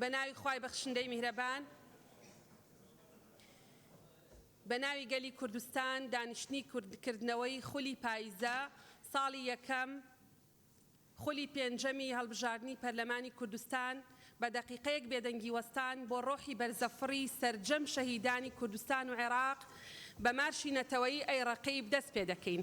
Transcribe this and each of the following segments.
بە ناوی خوای بەخشندەی میهرەبان بە ناوی گەلی کوردستان دانیشتنی کردنەوەی خولی پاییزە ساڵی یەکەم خولی پێنجەمی هەڵبژاردنی پەرلەمانی کوردستان بە دەقیقەیەک بێدەنگی وەستان بۆ ڕۆحی بەرزەفڕی سەرجەم شەهیدانی کوردستان و عێراق بە مارشی نەتەوەیی ئەی ڕەقیب دەست پێ دەکەین.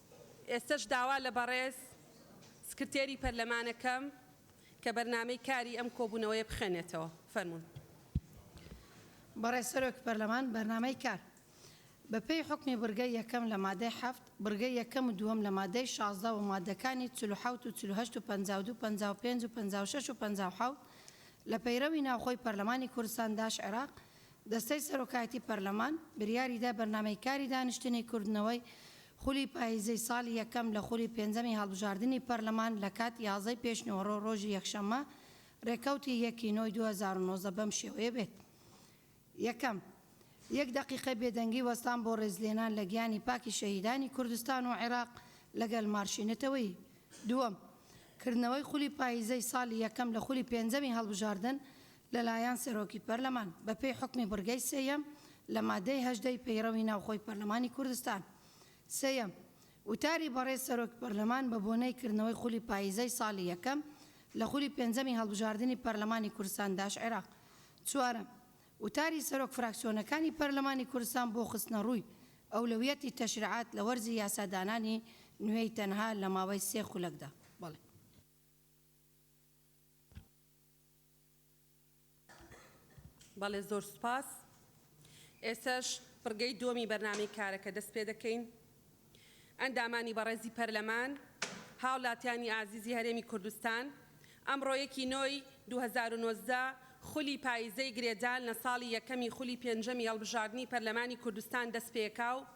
ئێستەش داوا لە بەڕێز سکرتێری پەرلەمان ئەکەم کە بەرنامەی کاری ئەم کۆبوونەوەیە بخوێنێتەوە. فەرموون. بەڕێز سەرۆک پەرلەمان، بەرنامەی کار بە پێی حوکمی بڕگەی یەکەم لە مادەی حەفت، بڕگەی یەکەم و دووەم لە مادەی شازدە و مادەکانی چل و حەوت و چل و هەشت و پەنجا و دوو پەنجا و پێنج و پەنجا و شەش و پەنجا و حەوت لە پەیڕەوی ناوخۆی پەرلەمانی کوردستان داش عێراق دەستەی سەرۆکایەتی پەرلەمان بریاریدا بەرنامەی کاری دانیشتنی کردنەوەی خولی پاییزەی ساڵی یەکەم لە خولی پێنجەمی هەڵبژاردنی پەرلەمان لەکات یازدەی پێشنیوەڕۆ ڕۆژی یەکشەممە ڕێکەوتی یەک ی نۆی دوو هەزار و نۆزدە بەم شێوەیە بێت یەکەم یەک دەقیقەی بێدەنگی وەستان بۆ ڕێزلێنان لە گیانی پاکی شەهیدانی کوردستان و عێراق لەگەل مارشی نەتەوەیی دووەم کردنەوەی خولی پاییزەی ساڵی یەکەم لە خولی پێنجەمی هەڵبژاردن لەلایەن سەرۆکی پەرلەمان، بەپێی حوکمی بڕگەی سێیەم لە مادەی هەژدە ی پەیڕەوی ناوخۆی پەرلەمانی کوردستان. سێیەم، وتاری بەڕێز سەرۆک پەرلەمان بە بۆنەی کردنەوەی خولی پاییزەی ساڵی یەکەم لە خولی پێنجەمی هەڵبژاردنی پەرلەمانی کوردستان داش-عێراق. چوارەم، وتاری سەرۆک فراکسیۆنەکانی پەرلەمانی کوردستان بۆ خستنەڕووی ئەولەویەتی تەشریعات لە وەرزی یاسادانانی نوێی تەنها لە ماوەی سێ خولەکدا. بەڵێ. بەڵێ زۆر سوپاس ئێسەش بڕگەی دووەمی بەرنامەی کارەکە دەست پێ دەکەین ئەندامانی بەڕێزی پەرلەمان هاوڵاتیانی ئازیزی هەرێمی کوردستان ئەمڕۆ یەکی نۆی 2019 خولی پاییزەی گرێدان لە ساڵی یەکەمی خولی پێنجەمی هەڵبژاردنی پەرلەمانی کوردستان دەست پێکا و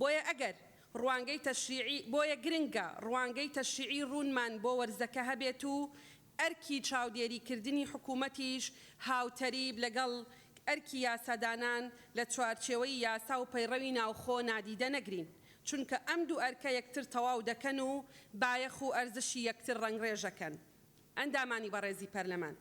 بۆیە ئەگەر ڕوانگەی تەشریعی بۆیە گرنگە ڕوانگەی تەشریعی ڕوونمان بۆ وەرزەکە هەبێت و ئەرکی چاودێریکردنی حکوومەتیش هاوتەریب لەگەڵ ئەرکی یاسادانان لە چوارچێوەی یاسا و پەیڕەوی ناوخۆ نادیدە نەگرین چونکە ئەم دوو ئەرکە یەکتر تەواو دەکەن و بایەخ و ئەرزشی یەکتر ڕەنگڕێژەکەن. ئەندامانی بەڕێزی پەرلەمان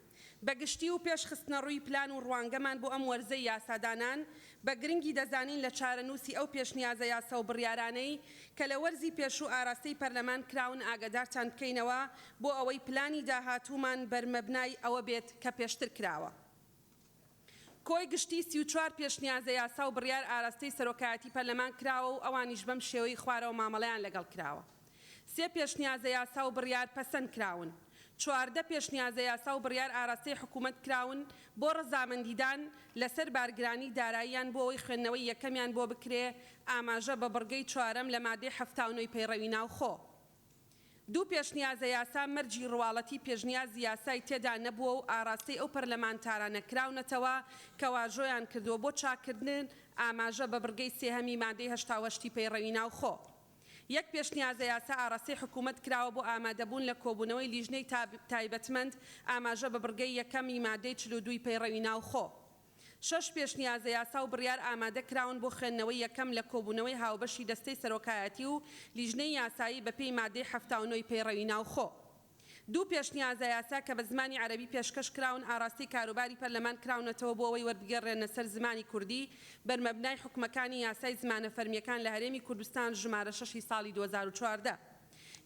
بە گشتی و پێش خستنەڕووی پلان و ڕوانگەمان بۆ ئەم وەرزەی یاسادانان، بە گرنگی دەزانین لە چارەنووسی ئەو پێشنیازە یاسا و بڕیارانەی کە لە وەرزی پێشوو ئاراستەی پەرلەمان کراون ئاگادارتان بکەینەوە بۆ ئەوەی پلانی داهاتوومان بەر مەبنای ئەوە بێت کە پێشتر کراوە. کۆی گشتی سی و چوار پێشنیازە یاسا و بڕیار ئاراستەی سەرۆکایەتی پەرلەمان کراوە و ئەوانیش بەم شێوەی خوارەوە مامەڵەیان لەگەڵ کراوە، سێ پێشنیازە یاسا و بڕیار پەسەند کراون، چواردە پێشنیازە یاسا و بڕیار ئاراستەی حکوومەت کراون بۆ ڕەزامەندیدان لەسەر بارگرانی داراییان بۆ ئەوەی خوێندنەوەی یەکەمیان بۆ بکرێ، ئاماژە بە بڕگەی چوارەم لە مادەی حەفتا و نۆی پەیڕەوی ناوخۆ. دوو پێشنیازە یاسا مەرجی ڕواڵەتی پێشنیازی یاسای تێدا نەبووە و ئاڕاستەی ئەو پەرلەمانتارانە کراونەتەوە کە واژۆیان کردووە بۆ چاککردن ئاماژە بە بڕگەی سێهەمی مادەی هەشتا و هەشت ی پەیڕەوی ناوخۆ یەک پێشنیازە یاسا ئاڕاستەی حکوومەت کراوە بۆ ئامادەبوون لە کۆبوونەوەی لیژنەی تایبەتمەند ئاماژە بە بڕگەی یەکەم ی مادەی چل و دوو ی پەیڕەوی ناوخۆ. شەش پێشنیازە یاسا و بڕیار ئامادە کراون بۆ خوێندنەوەی یەکەم لە کۆبوونەوەی هاوبەشی دەستەی سەرۆکایەتی و لیژنەی یاسایی بەپێی ماددەی حەفتا و نۆ ی پەیڕەوی ناوخۆ. دوو پێشنیازە یاسا کە بە زمانی عەرەبی پێشکەش کراون ئاڕاستەی کاروباری پەرلەمان کراونەتەوە بۆ ئەوەی وەربگێڕرێنە سەر زمانی کوردی بەرمەبنای حوکمەکانی یاسای زمانە فەرمییەکان لە هەرێمی کوردستان ژمارە شەش ی ساڵی دوو هەزار و چواردە.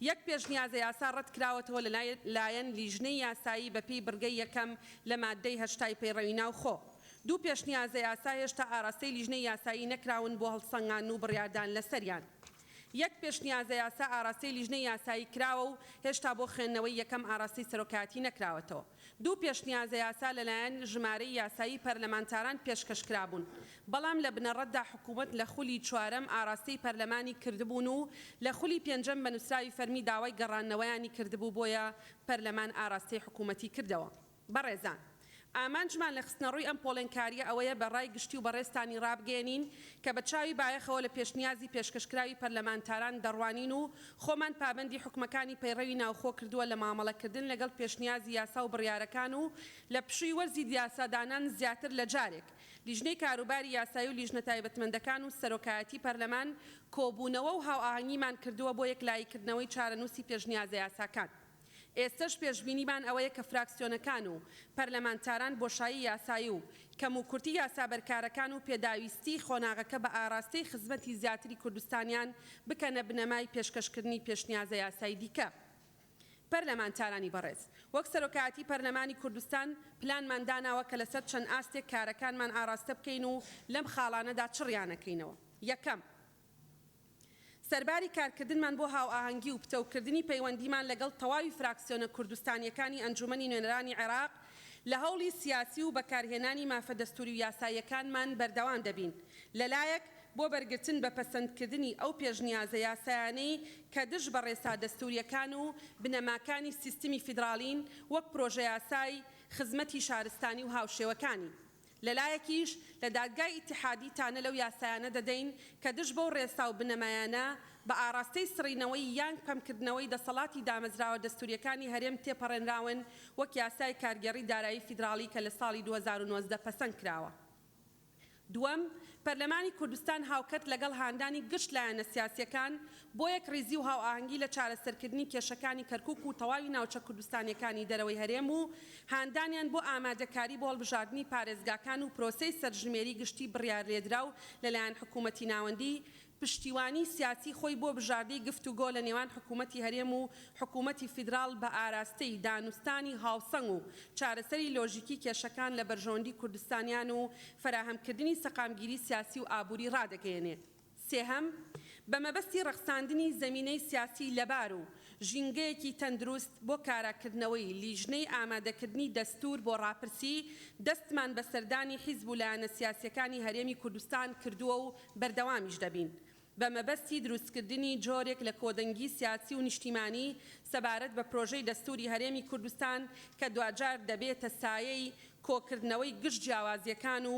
یەک پێشنیازە یاسا ڕەتکراوەتەوە لە لایەن لیژنەی یاسایی بە پێی بڕگەی یەکەم لە ماددەی هەشتای پەیڕەوی ناوخۆ. دوو پێشنیازە یاسا هێشتا ئاراستەی لیژنەی یاسایی نەکراون بۆ هەڵسەنگاندن و بڕیاردان لەسەریان. یەک پێشنیازە یاسا ئاراستەی لیژنەی یاسایی کراوە و هێشتا بۆ خوێندنەوەی یەکەم ئاراستەی سەرۆکایەتی نەکراوەتەوە. دوو پێشنیازە یاسا لەلایەن ژمارەی یاسایی پەرلەمانتاران پێشکەشکرابوون، بەڵام لە بنەڕەتدا حکوومەت لە خولی چوارەم ئاراستەی پەرلەمانی کردبوون و لە خولی پێنجەم بە نووسراوی فەرمی داوای گەڕاندنەوەیانی کردبوو بۆیە پەرلەمان ئاراستەی حکوومەتی کردەوە. بەڕێزان ئامانجمان لە خستنەڕووی ئەم پۆڵێنکارییە ئەوەیە بە ڕای گشتی و بەڕێزتانی ڕابگەیەنین کە بە چاوی بایەخەوە لە پێشنیازی پێشکەشکراوی پەرلەمانتاران دەڕوانین و خۆمان پابەندی حوکمەکانی پەیڕەوی ناوخۆ کردووە لە مامەڵەکردن لەگەڵ پێشنیازی یاسا و بڕیارەکان و لە پشووی وەرزی یاسادانان زیاتر لە جارێک لیژنەی کاروباری یاسایی و لیژنە تایبەتمەندەکان و سەرۆکایەتی پەرلەمان کۆبوونەوە و هاوئاهەنگیمان کردووە بۆ یەکلاییکردنەوەی چارەنووسی پێشنیازەیاساکان. ئێستەش پێشبینیمان ئەوەیە کە فراکسیۆنەکان و پەرلەمانتاران بۆشایی یاسایی و کەموکورتی یاسا بەرکارەکان و پێداویستیی قۆناغەکە بە ئاراستەی خزمەتی زیاتری کوردستانیان بکەنە بنەمای پێشکەشکردنی پێشنیازە یاسای دیکە. پەرلەمانتارانی بەڕێز، وەک سەرۆکایەتیی پەرلەمانی کوردستان پلانمان داناوە کە لەسەر چەند ئاستێک کارەکانمان ئاراستە بکەین و لەم خاڵانەدا چڕیانەکەینەوە. یەکەم. سەرباری کارکردنمان بۆ هاوئاهەنگی و پتەوکردنی پەیوەندیمان لەگەڵ تەواوی فراکسیۆنە کوردستانییەکانی ئەنجوومەنی نوێنەرانی عێراق، لە هەوڵی سیاسی و بەکارهێنانی مافە دەستووری و یاساییەکانمان بەردەوام دەبین، لەلایەک بۆ بەرگرتن بە پەسەندکردنی ئەو پێشنیازە یاسایانەی کە دژ بە ڕێسا دەستوورییەکان و بنەماکانی سیستمی فیدراڵین وەک پرۆژەیاسای خزمەتی شارستانی و هاوشێوەکانی، لەلایەکیش لە دادگای ئیتیحادی تانە لەو یاسایانە دەدەین کە دژ بەو ڕێسا و بنەمایانە بە ئاڕاستەی سڕینەوەی یانگ پەمکردنەوەی دەسەڵاتی دامەزراوە دەستوریەکانی هەرێم تێپەڕێنراون وەک یاسای کارگێڕی دارایی فیدراڵی کە لە ساڵی دوو هەزار و نۆزدە پەسەند کراوە. دووەم، پەرلەمانی کوردستان هاوکەرت لەگەڵ هاندانی گشت لایەنە سیاسیەکان بۆ یەکڕیزی و هاوئاهەنگی لە چارەسەرکردنی کێشەکانی کەرکوک و تەواوی ناوچە کوردستانیەکانی دەرەوەی هەرێم و هاندانیان بۆ ئامادەکاری بۆ هەڵبژاردنی پارێزگاکان و پرۆسەی سەرژمێری گشتی بڕیارلێدراو لەلایەن حکومەتی ناوەندی پشتیوانی سیاسی خۆی بۆ بژاردەی گفتوگۆ لە نێوان حکومەتی هەرێم و حکومەتی فیدراڵ بە ئاراستەی دانوستانی هاوسەنگ و چارەسەری لۆژیکی کێشەکان لە بەرژەوەندی کوردستانیان و فەراهەمکردنی سەقامگیری سیاسی و ئابوری ڕادەگەیەنێ. سێهەم، بە مەبەستی ڕەخساندنی زەمینەی سیاسی لەبار و ژینگەیەکی تەندروست بۆ کاراکردنەوەی لیژنەی ئامادەکردنی دەستوور بۆ ڕاپرسی، دەستمان بە سەردانی حیزب و لایەنە سیاسییەکانی هەرێمی کوردستان کردووە و بەردەوامیش دەبین، بە مەبەستی دروستکردنی جۆرێک لە کۆدەنگی سیاسی و نیشتیمانی سەبارەت بە پرۆژەی دەستووری هەرێمی کوردستان کە دواجار دەبێتە سایەی کۆکردنەوەی گشت جیاوازییەکان و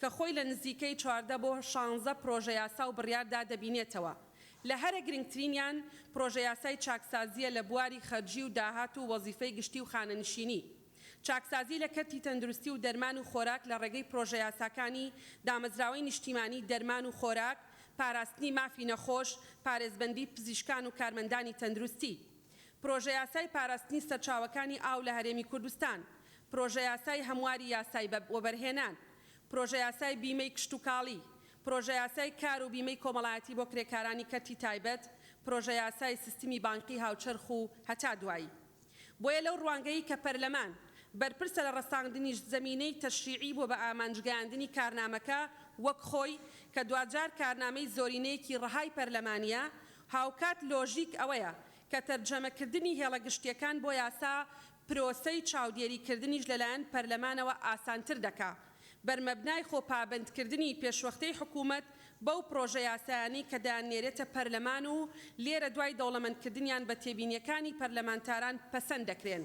کە خۆی لە نزیکەی چواردە بۆ شانزە پرۆژەیاسا و بڕیاردا دەبینێتەوە، لە هەرە گرنگترینیان پرۆژەیاسای چاکسازییە لە بواری خەرجی و داهات و وەزیفەی گشتی و خانەنشینی، چاکسازی لە کەرتی تەندروستی و دەرمان و خۆراک لە ڕێگەی پرۆژەیاساکانی دامەزراوەی نیشتیمانی دەرمان و خۆراک، پاراستنی مافی نەخۆش، پارێزبەندی پزیشکان و کارمەندانی تەندروستی. پرۆژەیاسای پاراستنی سەرچاوەکانی ئاو لە هەرێمی کوردستان، پرۆژەیاسای هەمواری یاسای وەبەرهێنان، پرۆژەیاسای بیمەی کشتوکاڵی، پرۆژەیاسای کار و بیمەی کۆمەڵایەتی بۆ کرێکارانی کەرتی تایبەت، پرۆژەیاسای سیستمی بانقی هاوچەرخ و. هەتا دوایی. بۆیە لەو ڕوانگەی کە پەرلەمان بەرپرسە لە ڕەساندنیش زەمینەی تەشریعی بووە بە ئامانجگەیاندنی کارنامەکە وەک خۆی کە دواجار کارنامەی زۆرینەیەکی ڕەهای پەرلەمانییە هاوکات لۆژیک ئەوەیە کە تەرجەمەکردنی هێڵە گشتییەکان بۆ یاسا پرۆسەی چاودێریکردنیش لەلایەن پەرلەمانەوە ئاسانتر دەکا، بەرمەبنای خۆپابەندکردنی پێشوەختەی حکوومەت بەو پڕۆژە یاسایانەی کە دەیاننێرێتە پەرلەمان و لێرە دوای دەوڵەمەندکردنیان بە تێبینییەکانی پەرلەمانتاران پەسەند دەکرێن.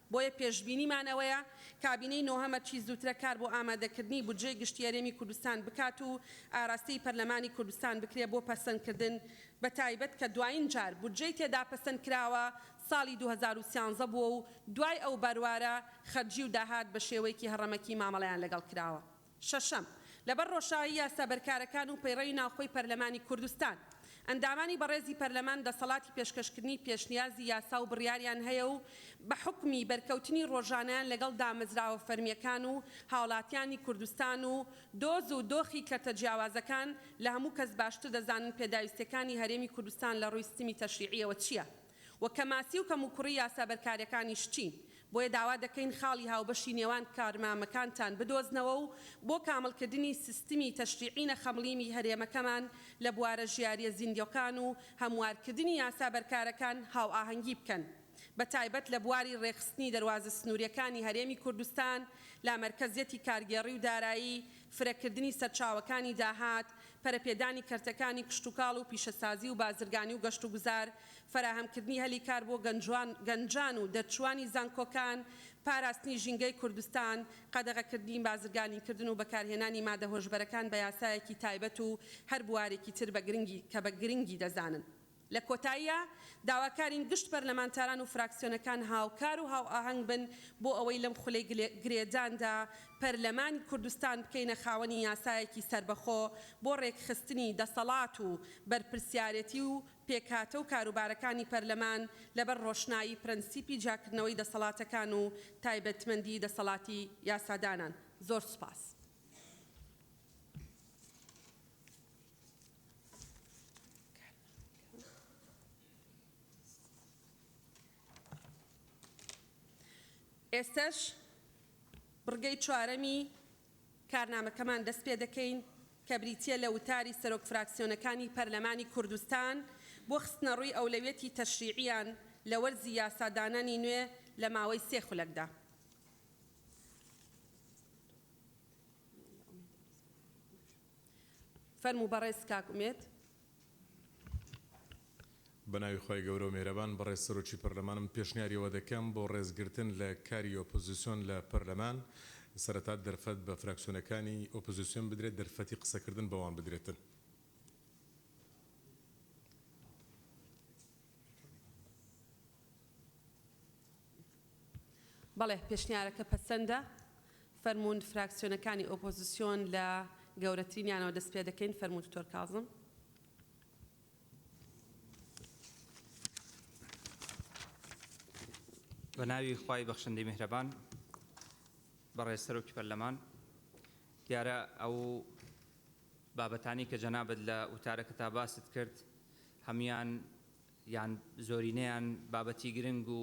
بۆیە پێشبینیمان ئەوەیە کابینەی نۆهەمە چی زووترە کار بۆ ئامادەکردنی بودجەی گشتی هەرێمی کوردستان بکات و ئاراستەی پەرلەمانی کوردستان بکرێ بۆ پەسەندکردن بەتایبەت کە دواین جار بودجەی تێدا پەسەند کراوە ساڵی دوو هەزار و سیانزە بووە و دوای ئەو بەروارە خەرجی و داهات بەشێوەیەکی هەڕەمەکی مامەڵەیان لەگەڵ کراوە. شەشەم، لەبەر ڕۆشایی یاسابەرکارەکان و پەیڕەوی ناوخۆی پەرلەمانی کوردستان، ئەندامانی بەڕێزی پەرلەمان دەسەڵاتی پێشکەشکردنی پێشنیازی یاسا و بڕیاریان هەیە و بە حوکمی بەرکەوتنی ڕۆژانەیان لەگەڵ دامەزراوە فەرمییەکان و هاوڵاتیانی کوردستان و دۆز و دۆخی کەرتە جیاوازەکان لە هەموو کەس باشتر دەزانن پێداویستییەکانی هەرێمی کوردستان لە ڕووی ستمی تەشریعییەوە چییە. و کەماسی و کەموکوڕی یاسا بەرکارەکانیش چین، بۆیە داوا دەکەین خاڵی هاوبەشی نێوان کارمامەکانتان بدۆزنەوە و بۆ کامڵکردنی سیستمی تەشریعی نەخەمڵیی هەرێمەکەمان لە بوارە ژیارییە زیندەوکان و هەموارکردنی یاسا بەرکارەکان هاوئاهەنگی بکەن بەتایبەت لە بواری ڕێکخستنی دەروازە سنوورییەکانی هەرێمی کوردستان لە مەرکەزیەتی کارگێڕی و دارایی فرەکردنی سەرچاوەکانی داهات، پەرەپێدانی کەرتەکانی کشتوکاڵ و پیشەسازی و بازرگانی و گەشتوگوزار، فەراهەمکردنی هەلی کار بۆ گەنجان و دەرچووانی زانکۆکان، پاراستنی ژینگەی کوردستان، قەدەغەکردنی بازرگانیکردن و بەکارهێنانی مادە هۆشبەرەکان بە یاسایەکی تایبەت و هەر بوارێکی تر کە بە گرنگی دەزانن. لە کۆتاییا داواکارین گشت پەرلەمانتاران و فراکسیۆنەکان هاوکار و هاوئاهەنگ بن بۆ ئەوەی لەم خولەی گرێداندا پەرلەمانی کوردستان بکەینە خاوەنی یاسایەکی سەربەخۆ بۆ رێکخستنی دەسەڵات و بەرپرسیارێتی و پێکهاتە و کاروبارەکانی پەرلەمان لەبەر رۆشنایی پرەنسیپی جیاکردنەوەی دەسەڵاتەکان و تایبەتمەندی دەسەڵاتی یاسادانان. زۆر سوپاس. ئێستەش بڕگەی چوارەمی کارنامەکەمان دەست پێ دەکەین کە بریتییە لە وتاری سەرۆک فراکسیۆنەکانی پەرلەمانی کوردستان بۆ خستنەڕووی ئەولەویەتی تەشریعییان لە وەرزی یاسادانانی نوێ لە ماوەی سێ خولەکدا. فەرموو بەڕێز کاک ئومێد. بەناوی خوای گەورە و میهرەبان بەڕێز سەرۆکی پەرلەمانم پێشنیاری ئەوە دەکەم بۆ ڕێزگرتن لە کاری ئۆپۆزیسۆن لە پەرلەمان سەرەتا دەرفەت بە فراکسیۆنەکانی ئۆپۆزیسیۆن بدرێت دەرفەتی قسەکردن بەوان بدرێتن. بەڵێ پێشنیارەکە پەسەندە. فەرموون فراکسیۆنەکانی ئۆپۆزسیۆن لە گەورەترینیانەوە دەست پێ دەکەین، فەرموو دکتۆر کازم. بە ناوی خوای بەخشندەی میهرەبان. بەڕێز سەرۆکی پەرلەمان، دیارە ئەو بابەتانەی کە جەنابت لە وتارەکەتا باست کرد هەموویان یان زۆرینەیان بابەتی گرنگ و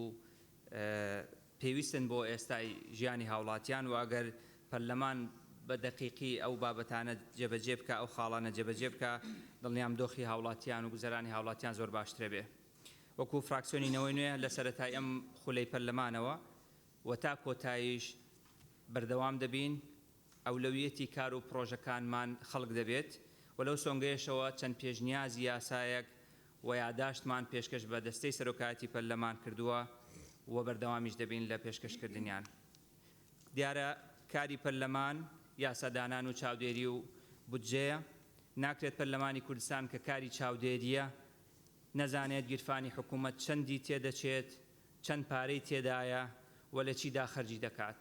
پێویستن بۆ ئێستای ژیانی هاوڵاتیان و ئەگەر پەرلەمان بە دەقیقی ئەو بابەتانە جێبەجێ بکا، ئەو خاڵانە جێبەجێ بکا، دڵنیام دۆخی هاوڵاتیان و گوزەرانی هاوڵاتیان زۆر باشترە بێ. وەکو فراکسیۆنی نەوەی نوێ لە سەرەتای ئەم خولەی پەرلەمانەوە و تا کۆتاییش بەردەوام دەبین، ئەولەویەتی کار و پڕۆژەکانمان خەڵک دەبێت و لەو سۆنگەیەشەوە چەند پێشنیازی یاسایەک و یاداشتمان پێشکەش بە دەستەی سەرۆکایەتی پەرلەمان کردووە و بەردەوامیش دەبین لە پێشکەشکردنیان. دیارە کاری پەرلەمان یاسادانان و چاودێری و بودجەیە، ناکرێت پەرلەمانی کوردستان کە کاری چاودێرییە نەزانێت گیرفانی حکوومەت چەندی تێدەچێت، چەند پارەی تێدایە و لە چیدا خەرجی دەکات،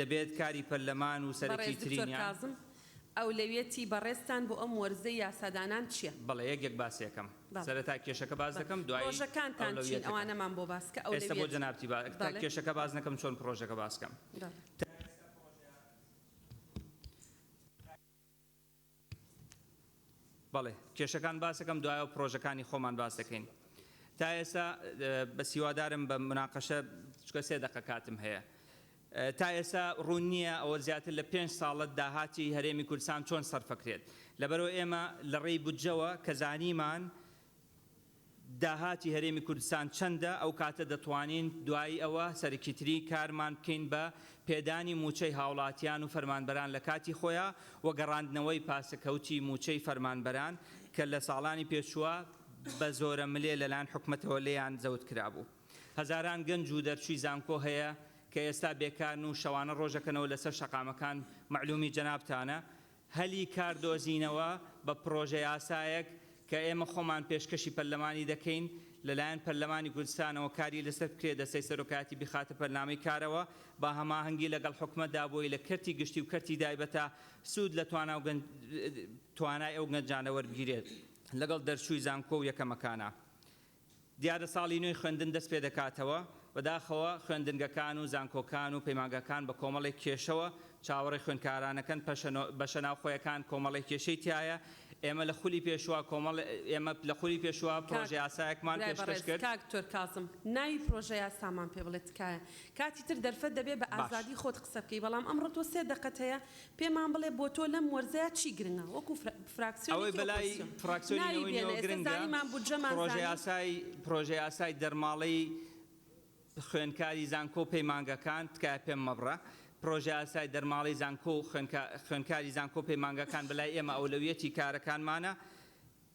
دەبێت کاری پەرلەمان و سەرەکی بەڕێز دکتۆر ترینیان. کازم ئەولەویەتی بەڕێزتان بۆ ئەم وەرزەی یاسادانان چیە؟ بەڵێ یەک یەک باسی ئەکەم. بەڵێ. سەرەتا کێشەکە باس بەڵێ. دەکەم دوایی پڕۆژەکانتان چین ئەولەویەتەکان. ئەوانەمان بۆ باس کە ئێستا بۆ ئەولەویەت. جەنابتی با تا بەڵێ. کێشەکە باس نەکەم چۆن پڕۆژەکە باس کەم. بەڵێ. تا ئێستا پڕۆژە. بەڵێ کێشەکان باسەکەم دوایەوە پرۆژەکانی خۆمان باسەکەین تا ئێستا بەس هیوادارم بە مناقەشە چکە سێ دەقە کاتم هەیە تا ئێستا ڕوون نییە ئەوە زیاتر لە پێنج ساڵە داهاتی هەرێمی کوردستان چۆن سەرفەکرێت لەبەرەوە ئێمە لە ڕێی بودجەوە کە زانیمان داهاتی هەرێمی کوردستان چەندە، ئەو کاتە دەتوانین دوایی ئەوە سەرکیتری کارمان بکەین بە پێدانی مووچەی هاوڵاتیان و فەرمانبەران لە کاتی خۆیا و گەڕاندنەوەی پاسەکەوتی مووچەی فەرمانبەران کە لە ساڵانی پێچووە بە زۆرە ملێ لە لایەن حکومەتەوە لێیان زەوت کرابوو. هەزاران گەنج و دەرچووی زانکۆ هەیە کە ئێستا بێکارن و شەوانە ڕۆژەکەنەوە لەسەر شەقامەکان، مەعلوومی جەنابتانە هەلی کار دۆزینەوە بە پڕۆژەیاسایەک کە ئێمە خۆمان پێشکەشی پەرلەمانی دەکەین لەلایەن پەرلەمانی کوردستانەوە کاری لەسەر بکرێت دەستەی سەرۆکایەتی بخاتە بەرنامەی کارەوە بە هەماهەنگی لەگەڵ حکومەتدا بۆی لە کەرتی گشتی و کەرتی دایبەتە سود لە توانا و توانای ئەو گەنجانە وەربگیرێت لەگەڵ دەرچووی زانکۆ و یەکەمەکانە دیارە ساڵی نوێی خوێندن دەست پێ دەکاتەوە، بەداخەوە خوێندنگەکان و زانکۆکان و پەیمانگاکان بە کۆمەڵێک کێشەوە چاوەڕێی خوێندکارانەکەن، پەشە بەشە ناوخۆیەکان کۆمەڵێک کێشەی تیایە، ئێمە لە خولی پێشووە کۆمەڵ ئێمە لە خولی پێشووە کاک پرۆژەیاسایەکمان برای پێشکەش بەڕێز، کرد. کاک دکتۆر کاظم ناوی پرۆژەیاسامان پێ بڵێ تکایە، کاتی تر دەرفەت دەبێ بە باش. ئازادی خۆت قسە بکەی، بەڵام ئەمڕۆ تۆ سێ دەقەت هەیە پێمان بڵێ بۆ تۆ لەم وەرزەیا چی گرنگە وەکو فراکسیۆنێک لە ئۆپۆزسیۆن؟ ناوی بێنە ئێستا زانیمان بودجەمان زانی. پرۆژەیاسای دەرماڵەی خوێندکاری زانکۆ و پەیمانگەکان تکایە پێم مەبڕە پرۆژەیاسای دەرماڵەی زانکۆ و خوێندکاری زانکۆ و پەیمانگەکان بەلای ئێمە ئەولەویەتی کارەکانمانە،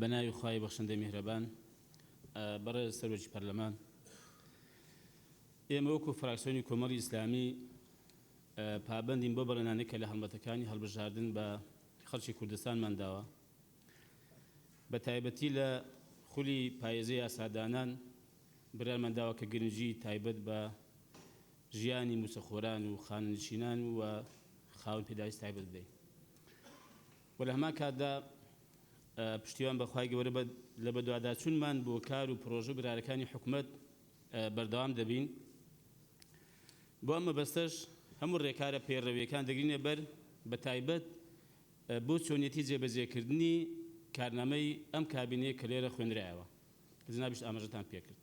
بەناوی خوای بەخشندەی میهرەبان بەڕێز سەرۆکی پەرلەمان ئێمە وەکو فراکسیۆنی کۆمەڵی ئیسلامی پابندین بۆ بەڵێنانی کە لە هەڵمەتەکانی هەڵبژاردن بە خەڵکی کوردستانمان داوە بە تایبەتی لە خولی پایزی یاسادانان برایمان داوە کە گرنگی تایبەت بە ژیانی موچەخۆران و خانەنشینان و خاوەن پێداویست تایبەت بدەین و لە هەمان کاتدا پشتیوان بە خوای گەورە بە لە بەدواداچونمان بۆ کار و پرۆژە برارەکانی حکومەت بەردەوام دەبین بۆ ئەم مەبەستەش هەموو ڕێکارە پەیڕەویەکان دەگرینە بەر بە تایبەت بۆ چۆنیەتی جێبەجێکردنی کارنامەی ئەم کابینەیە کە لێرە خوێنرایەوە کە جەنابیشت ئاماژەتان پێکرد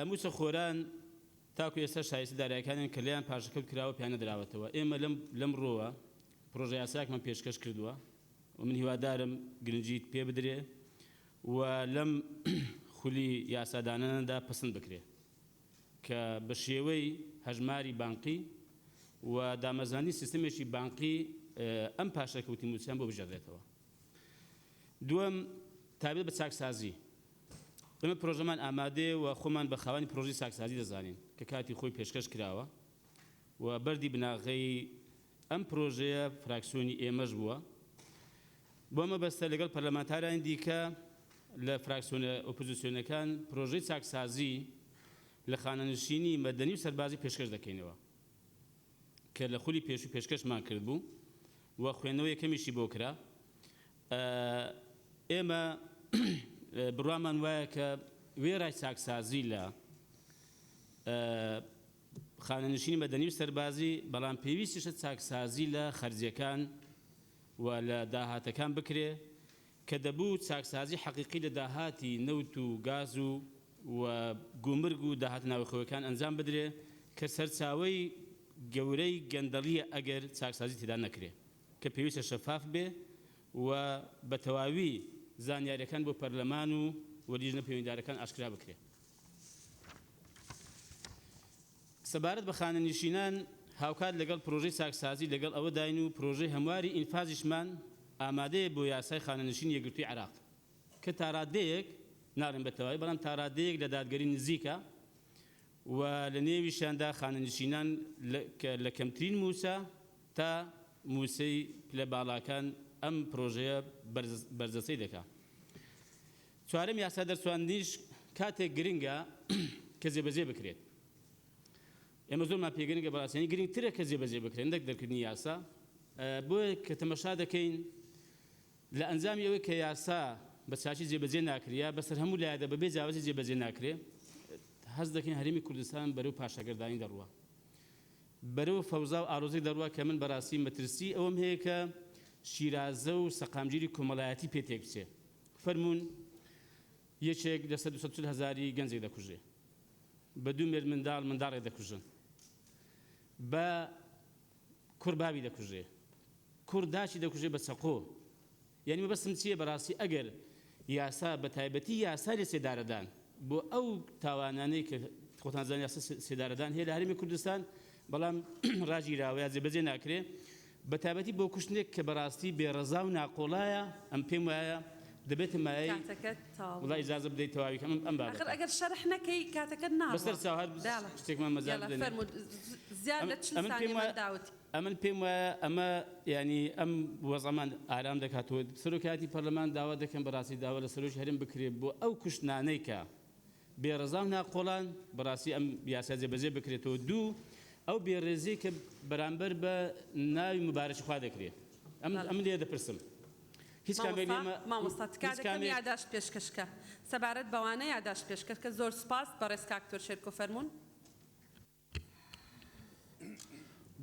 موچە خۆران تاکو ئێستا شایستی دارایەکانیان کە لێیان پاشەکەوت کراوە پێیان نەدراوەتەوە ئێمە لەم لەم ڕۆوە پرۆژە یاساکمان پێشکەش کردووە و من هیوادارم گرنگیت پێ بدرێ و لەم خولی یاساداناندا پەسند بکرێ. کە بە شێوەی هەژماری بانقی و دامەزراندنی سیستەمێکی بانقی ئەم پاشەکەوتی مووچەیان بۆ بگێڕدرێتەوە. دووەم، تایبەت بە چاکسازی، ئێمە پرۆژەمان ئامادەیە و خۆمان بە خاوەنی پرۆژەی چاکسازی دەزانین کە کاتی خۆی پێشکەش کراوە و بەردی بناغەی ئەم پرۆژەیە فراکسیۆنی ئێمەش بووە، بەو مەبەستە لەگەڵ پەرلەمانتارانی دیکە لە فراکسیۆنە ئۆپۆزیسیۆنەکان پرۆژەی چاکسازی لە خانەنشینی مەدەنی و سەربازی پێشکەش دەکەینەوە کە لە خولی پێشوو پێشکەشمان کردبوو و خوێندنەوەی یەکەمیشی بۆ کرا. ئێمە بڕوامان وایە کە وێڕای چاکسازی لە خانەنشینی مەدەنی و سەربازی، بەڵام پێویستیشە چاکسازی لە خەرجیەکان و لە داهاتەکان بکرێ کە دەبوو چاکسازی حەقیقی لە داهاتی نەوت و گاز و و گومرگ و داهاتە ناوخۆیەکان ئەنجام بدرێ کە سەرچاوەی گەورەی گەندەڵیە ئەگەر چاکسازی تێدا نەکرێ کە پێویستە شەفاف بێ و بە تەواوی زانیاریەکان بۆ پەرلەمان و و لیژنە پەیوەندیدارەکان ئاشکرا بکرێ. سەبارەت بە خانەنشینان، هاوکات لەگەڵ پرۆژەی چاکسازی لەگەڵ ئەوەداین و پرۆژەی هەمواری ئینفازیشمان ئامادەیە بۆ یاسای خانەنشینی یەکگرتووی عێراق کە تاڕادەیەک، ناڵێم بە تەواوی، بەڵام تاڕادەیەک لە دادگەری نزیکە و لە نێویشیاندا خانەنشینان کە لە کەمترین مووچە تا مووچەی پلە باڵاکان ئەم پرۆژەیە بەرجەستەی دەکات. چوارەم یاسا دەرچواندنیش کاتێک گرنگە کە جێبەجێ بکرێت. ئێمە زۆرمان پێ گرنگە بەڕاستی یانی گرنگترە کە جێبەجێ بکرێت نەک دەرکردنی یاسا. بۆیە کە تەمەشا دەکەین لە ئەنجامی ئەوەی کە یاسا بە چاکی جێبەجێ ناکرێ یا بەسەر هەموو لایەدا بەبێ جیاوازی جێبەجێ ناکرێ هەست دەکەین هەرێمی کوردستان بەرەو پاشەگەردانی دەڕوا. بەرەو فەوزا و ئاڵۆزی دەڕوا کە من بەڕاستی مەترسیی ئەوەم هەیە کە شیرازە و سەقامگیری کۆمەڵایەتی پێ تێک بچێ. فەرموون یەکێک لە سەر دوو سەد و چل هەزاری گەنجێک دەکوژێ. بە دوو مێردمنداڵ منداڵێک دەکوژن. بە کوڕ باوی دەکوژێ. کوڕ داکی دەکوژێ بە چەقۆ. یانی مەبەستم چیە بەراستی ئەگەر یاسا بەتایبەتی یاسای سێدارەدان بۆ ئەو تاوانانەی کە خۆتان زانن یاسا سێدارەدان هەیە لە هەرێمی کوردستان بەڵام راگیراوە یا جێبەجێ ناکرێ بەتابەتی بۆ کوشتنێک کە بەراستی بێ رەزا و ناقۆڵایە ئەم پێم وایە دەبێتە مایەی کاتەکەت تەواو وڵا بوو ئیجازە بدەی تەواوی کەم ئەم بابەتە ئاخر ئەگەر شەرح نەکەی کاتەکەت بەس ناڕوا سەرچاو هەر بەالە شتێکمان مەجال یالا بدەنێ فەرموو زیاد لە چل ئەمن پێم ثانیە وایە من داوت ئەمن پێم وایە ئەمە یانی ئەم وەزعەمان ئارام دەکات و سەرۆکایەتی پەرلەمان داوا دەکەم بەڕاستی داوا لە سەرۆکی هەرێم بکرێت بۆ ئەو کوشتنانەی کە بێ ڕەزا و ناقۆڵان بەڕاستی ئەم یاسا جێبەجێ بکرێتەوە دوو ئەو بێ ڕێزیە کە بەرامبەر بە ناوی مبارەکی خوا دەکرێت ئەم ئەم لێ دەپرسم هیچ کامێک لێمە مامۆستا تکا دەکەم یاداشت پێشکەشکە سەبارەت بەوانە یاداشت پێشکەشکە زۆر سوپاس بەڕێز کاک تۆرشێرکۆ فەرموون.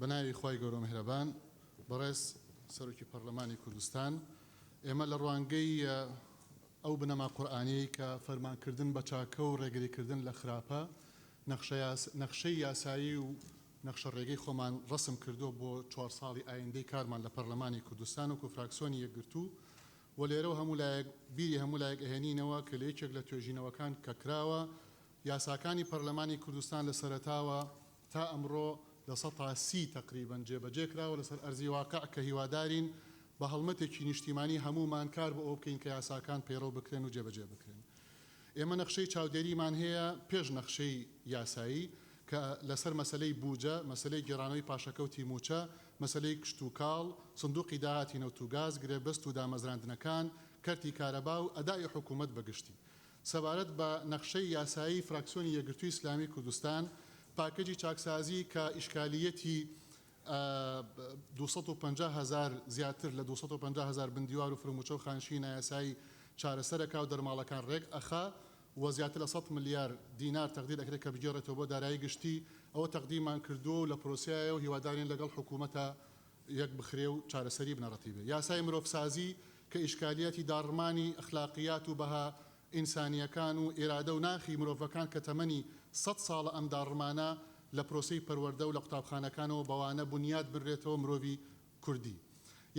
بەناوی خوای گەورە مهرەبان بەڕێز سەرۆکی پەڕلەمانی کوردستان ئێمە لە ڕوانگەی ئەو بنەما قورئانیەی کە فەرمانکردن بە چاکە و ڕێگریکردن لە خراپە نەخشەی یاسایی و نەخشە ڕێگەی خۆمان ڕسم کردووە بۆ چوار ساڵی ئایندەی کارمان لە پەڕلەمانی کوردستان و کۆفراکسۆنی یەکگرتوو و لێرەوە هەموو لایەک بیری هەموو لایەک ئەهێنینەوە کە لە یەکێک لە توێژینەوەکان کە کراوە یاساکانی پەرلەمانی کوردستان لە سەرەتاوە تا ئەمڕۆ لە سەتا سی تەقریبەن جێبەجێ کراوە لەسەر ئەرزی واقع کە هیوادارین بە هەڵمەتێکی نیشتیمانی هەموومان کار بۆ ئەوە بکەین کە یاساکان پەیڕەو بکرێن و جێبەجێ بکرێن. ئێمە نەخشەی چاودێریمان هەیە پێش نەخشەی یاسایی کە لەسەر مەسەلەی بووجە، مەسەلەی گێڕانەوەی پاشەکەوتی مووچە، مەسەلەی کشتوکاڵ، سندوقی داهاتی نەوت و گاز، گرێبەست و دامەزراندنەکان، کەرتی کارەبا و ئەدائی حکوومەت بە گشتی. سەبارەت بە نەخشەی یاسایی فراکسیۆنی یەکگرتووی ئیسلامی کوردستان پاکەجی چاکسازی کە ئیشکالییەتی دوو سەد و پەنجا هەزار زیاتر لە دوو سەد و پەنجا هەزار بندیوار و فرمووچە و خانشینی نایاسایی چارەسەر ئەکا و دەرماڵەکان رێک ئەخا و زیاتر لە سەد ملیار دینار تەقدیر ئەکرێ کە بگێڕێتەوە بۆ دارایی گشتی ئەوە تەقدیمان کردووە و لە پرۆسەیە و هیوادارین لەگەڵ حکوومەتە یەک بخرێ و چارەسەری بنەڕەتی بێ. یاسای مرۆڤسازی کە ئیشکالیاتی داڕمانی ئەخلاقیات و بەها ئینسانییەکان و ئیرادە و ناخی مرۆڤەکان کە تەمەنی سەد ساڵە ئەم داڕمانە لە پرۆسەی پەروەردە و لە قوتابخانەکانەوە بەوانە بونیاد بنرێتەوە مرۆڤی کوردی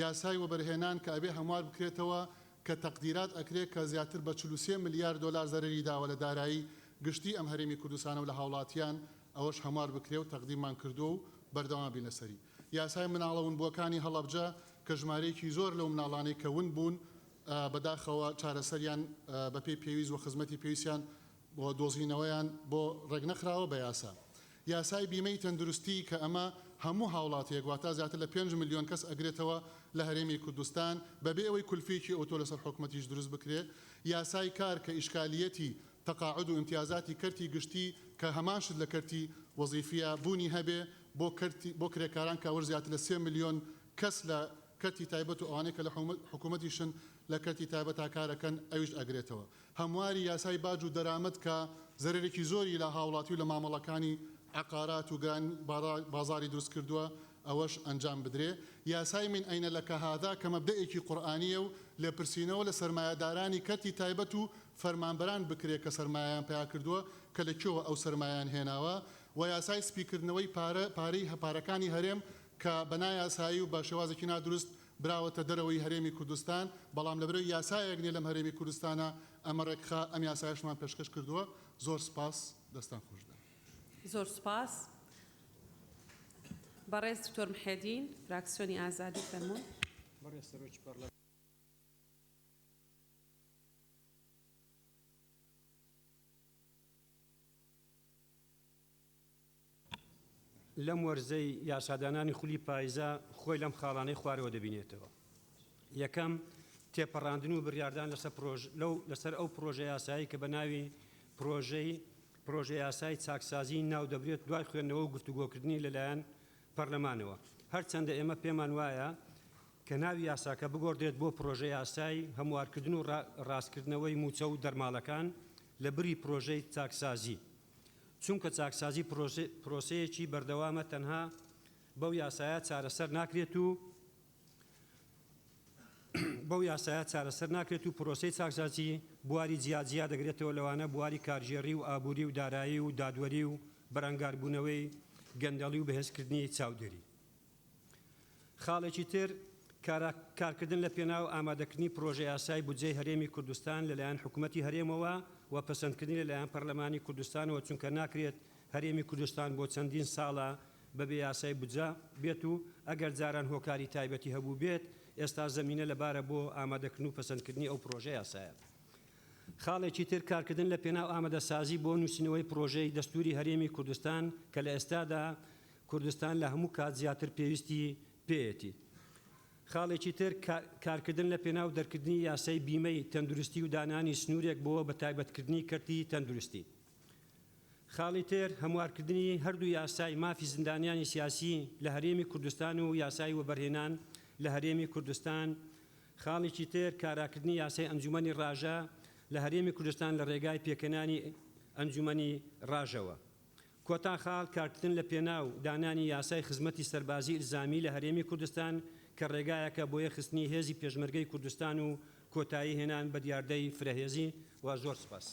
یاسای وەبەرهێنان کە ئەبێ هەموار بکرێتەوە کە تەقدیرات ئەکرێ کە زیاتر بە چل و سێ ملیار دۆلار زەرەری داوە لە دارایی گشتی ئەم هەرێمی کوردستانە و لە هاوڵاتیان ئەوەش هەموار بکرێ و تەقدیرمان کردووە و بەردەوام بین لەسەری. یاسای مناڵە ونبووەکانی هەڵەبجە کە ژمارەیەکی زۆر لەو مناڵانەی کە ون بوون بەداخەوە چارەسەریان بەپێی پێویست وخزمەتی پێویستیان و دۆزینەوەیان بۆ ڕێکنەخراوە بەیاسا یاسای بیمەی تەندروستی کە ئەمە هەموو هاوڵاتیەک واتا زیاتر لە پێنج ملیۆن کەس ئەگرێتەوە لە هەرێمی کوردستان بەبێ ئەوەی کولفیەکی ئەوتۆ لەسەر حکومەتیش دروست بکرێت یاسای کار کە ئیشکالیەتی تەقاعود و ئیمتیازاتی کەرتی گشتی کە هەمان شت لە کەرتی وەزیفییە بوونی هەبێ بۆ کەرتی بۆ کرێکاران کە ئەوەش زیاتر لە سێ ملیۆن کەس لە کەرتی تایبەت و ئەوانەی کە لە حکوومەتیشن لە کەرتی تایبەتا کار ئەکەن ئەویش ئەگرێتەوە هەمواری یاسای باج و دەرامەت کە زەرەرێکی زۆری لە هاوڵاتی و لە مامەڵەکانی عەقارات و گران بازاری دروست کردووە ئەوەش ئەنجام بدرێ یاسای من ئەینە لەکە هادا کە مەبدەئێکی قورئانییە و لێپرسینەوە لە سەرمایەدارانی کەرتی تایبەت و فەرمانبەران بکرێت کە سەرمایەیان پەیا کردووە کە لە کوێوە ئەو سەرمایەیان هێناوە و یاسای سپی کردنەوەی پارە پارەی پارەکانی هەرێم کە بە نایاسایی و بە شێوازێکی نادروست براوەتە دەرەوەی هەرێمی کوردستان بەڵام لەبەرەی یاسایەک نیە لەم هەرێمی کوردستانە ئەمە ڕێکخا ئەم یاسایەشمان پێشکەش کردووە زۆر سپاس دەستان خۆش بێت. زۆر سوپاس بەڕێز دکتۆر محێدین فراکسیۆنی ئازادی فەرموون. بەڕێز سەرۆکی پەڕلەمان. لەم وەرزەی یاسادانانی خولی پایزە خۆی لەم خاڵانەی خوارەوە دەبینێتەوە یەکەم تێپەڕاندن و بڕاردان لەسەر پرۆژ لەو لەسەر ئەو پرۆژە یاسایی کە بە ناوی پرۆژەی پرۆژە یاسای چاکسازی ناو دەبرێت دوای خوێندنەوە و گفتوگۆکردنی لەلایەن پەرلەمانەوە، هەرچەندە ئێمە پێمان وایە کە ناوی یاساکە بگۆڕدرێت بۆ پرۆژەیاسای هەموارکردن و راستکردنەوەی مووچە و دەرماڵەکان لە بری پرۆژەی چاکسازی، چونکە چاکسازی پرۆسەیەکی بەردەوامە تەنها بەو یاسایە چارەسەر ناکرێت و، بەو یاسایە چارەسەر ناکرێت و پرۆسەی چاکسازی بواری جیاجیا دەگرێتەوە لەوانە بواری کارگێڕی و ئابووری و دارایی و دادوەری و بەرەنگاربوونەوەی گەندەڵی و بەهێزکردنی چاودێری. خاڵێکی تر کارا کارکردن لە پێناو ئامادەکردنی پرۆژەیاسای بودجەی هەرێمی کوردستان لەلایەن حکومەتی هەرێمەوە و پەسەندکردنی لەلایەن پەرلەمانی کوردستانەوە چونکە ناکرێت هەرێمی کوردستان بۆ چەندین ساڵە بە بێ یاسای بودجە بێت و ئەگەر جاران هۆکاری تایبەتی هەبووبێت، ئێستا زەمینە لەبارە بۆ ئامادەکردن و پەسەندکردنی ئەو پڕۆژە یاسایە. خاڵێکی تر کارکردن لە پێناو ئامادەسازی بۆ نووسینەوەی پڕۆژەی دەستووری هەرێمی کوردستان کە لە ئێستادا کوردستان لە هەموو کات زیاتر پێویستی پێیەتی. خاڵێکی تر کارکردن لە پێناو دەرکردنی یاسای بیمەی تەندروستی و دانانی سنوورێک بۆ بەتایبەتکردنی کەرتی تەندروستی. خاڵی تر، هەموارکردنی هەردوو یاسای مافی زیندانیانی سیاسی لە هەرێمی کوردستان و یاسای وەبەرهێنان لە هەرێمی کوردستان، خاڵێکی تر کاراکردنی یاسای ئەنجومەنی ڕاژە لە هەرێمی کوردستان لە ڕێگای پێکهێنانی ئەنجومەنی ڕاژەوە. کۆتا خاڵ، کارکردن لە پێناو دانانی یاسای خزمەتی سەربازی ئیلزامی لە هەرێمی کوردستان کە ڕێگایەکە بۆ یەکخستنی هێزی پێشمەرگەی کوردستان و کۆتایی هێنان بە دیاردەی فرەهێزی. زۆر سوپاس.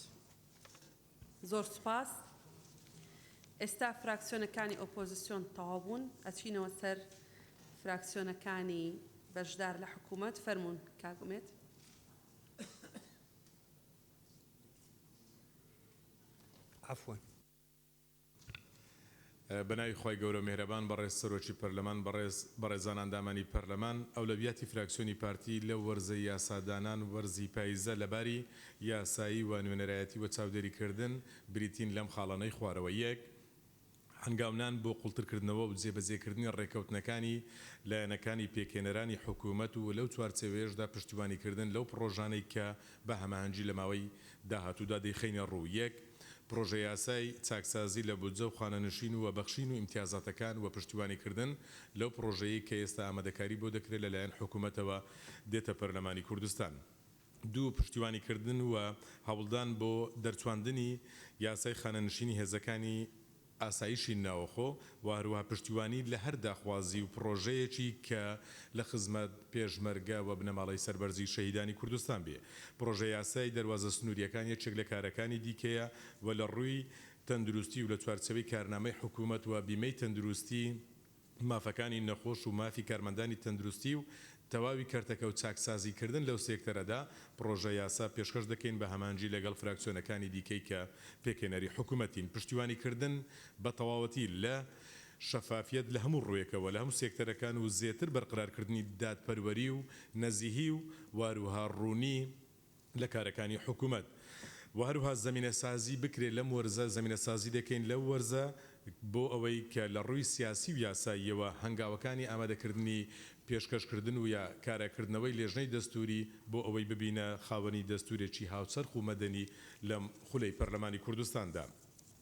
زۆر سوپاس. ئێستا فراکسیۆنەکانی ئۆپۆزسیۆن تەواو بوون، ئەچینەوە سەر فراکسیۆنەکانی بەشدار لە حکوومەت. فەرموون کاک ئومێد. عەفوەن. بەناوی خوای گەورە مێهرەبان بەڕێز سەرۆکی پەرلەمان بەڕێز بەڕێزان ئەندامانی پەرلەمان ئەولەویاتی فراکسیۆنی پارتی لەو وەرزەی یاسا دانان وەرزی پایزە لەباری یاسایی و نوێنەرایەتی و چاودێری کردن بریتین لەم خاڵانەی خوارەوە یەک هەنگاونان بۆ قوڵتر کردنەوە و جێبەجێ کردنی ڕێکەوتنەکانی لایەنەکانی پێکهێنەرانی حکومەت و لەو چوارچێوەیەشدا پشتیوانی کردن لەو پڕۆژانەی کە بە هەماهەنگی لە ماوەی داهاتوودا دەیخەینە ڕوو، یەک، پڕۆژەیاسای چاکسازی لە بودجە و خانەنشین و بەخشین و ئیمتیازاتەکان و پشتیوانیکردن لەو پڕۆژەیەی کە ئێستا ئامادەکاری بۆ دەکرێت لە لایەن حکوومەتەوە دێتە پەرلەمانی کوردستان. دوو، پشتیوانیکردن و هەوڵدان بۆ دەرچواندنی یاسای خانەنشینی هێزەکانی ئاسایشی ناوەخۆ و هەروەها پشتیوانی لە هەر داخوازی و پڕۆژەیەکی کە لە خزمەت پێشمەرگە و بنەماڵەی سەربەرزی شەهیدانی کوردستان بێ. پڕۆژەیاسای دەروازە سنوورییەکان یەکێک لە کارەکانی دیکەیە و لە ڕووی تەندروستی و لە چوارچێوەی کارنامەی حکوومەت و بیمەی تەندروستی، مافەکانی نەخۆش و مافی کارمەندانی تەندروستی و تەواوی کەرتەکە و چاکسازی کردن لەو سێکتەرەدا، پڕۆژە یاسا پێشکەش دەکەین بە هەمانجی لەگەڵ فراکسیۆنەکانی دیکەی کە پێکهێنەری حکومەتین، پشتیوانی کردن بە تەواوەتی لە شەفافیەت لە هەموو ڕووێکەوە لە هەموو سێکتەرەکان و زێتر بەرقرار کردنی دادپەروەری و نەزیهی و واروها ڕوونی لە کارەکانی حکومەت و هەروها زەمینەسازی بکرێت لەم وەرزە، زەمینەسازی دەکەین لەو وەرزە بۆ ئەوەی کە لە ڕووی سیاسی و یاساییەوە هەنگاوەکانی ئامادەکردنی پێشکەشکردن و یا کاراکردنەوەی لێژنەی دەستووری بۆ ئەوەی ببینە خاوەنی دەستوورێکی هاوچەرخ و مەدەنی لەم خولەی پەرلەمانی کوردستاندا.